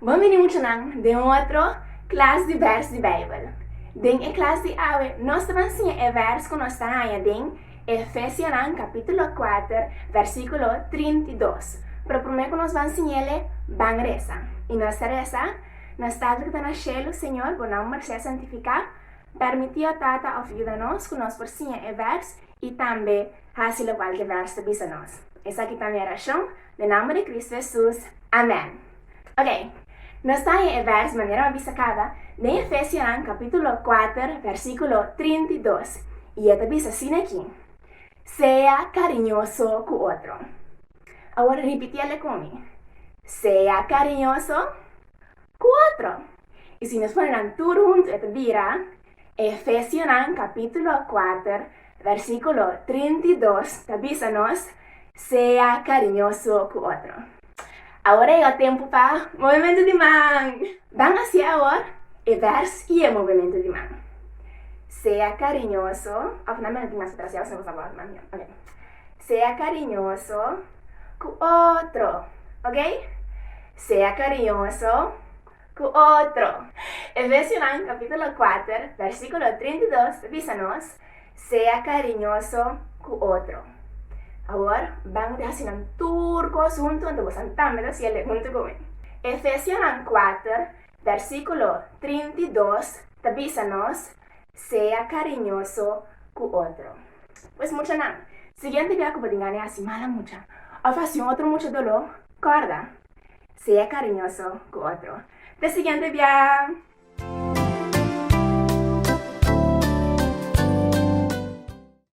Bon bini muchanan den otro klas di bèrs di Beibel. Den e klas di awe nos ta ban siña e bèrs ku nos ta haña den Efesianan kapítulo kuater vèrsikulo trinta i dos. Pero promé ku nos ban siñel e, ban resa. I nos ta resa, Nos Tata ku ta na shelu, Señor, bo nòmber sea santifiká. Pèrmití, o Tata, òf yuda nos ku nos por siña e bèrs i tambe Hasi lokual ki e bèrs ta bisa nos. Esaki ta mi orashon, den nomber di Kristu Hesus, amèn. Oke, nos ta haña e bèrs manera bo a bisa kada den Efesionan kapítulo kuater vèrsikulo trinta i dos, i e ta bisa asina aki, Sea kariñoso ku otro. Awor ripití alek ku mi, Sea kariñoso ku otro. I si nos pone nan tur huntu e ta bira, Efesionan capítulo kuater, versículo trinta i dos ta bisa nos, Sea cariñoso cu otro. Awor a yega tempu pa movementu di man! Ban haci awor e vers i e movementu di man. Sea cariñoso, of nan mi a tin mas atrasiao si no sa word man. Ok. Sea cariñoso cu otro. Ok? Sea cariñoso ku otro. Efesiunan kapítulo kuater, vèrsikulo trinta i dos ta bisa nos, Sea kariñoso ku otro. Awor, ban di hasi nan tur kos huntu anto bosan tambe ta siel e huntu ku mi. Efesiunan kuater, vèrsikulo trinta i dos ta bisa nos, Sea kariñoso ku otro. Pues muchanan, siguiente bia ku bo tin gana di hasi mal na mucha òf hasi un otro mucha doló, kòrda, Sea cariñoso cu otro. Te siguiente biaha.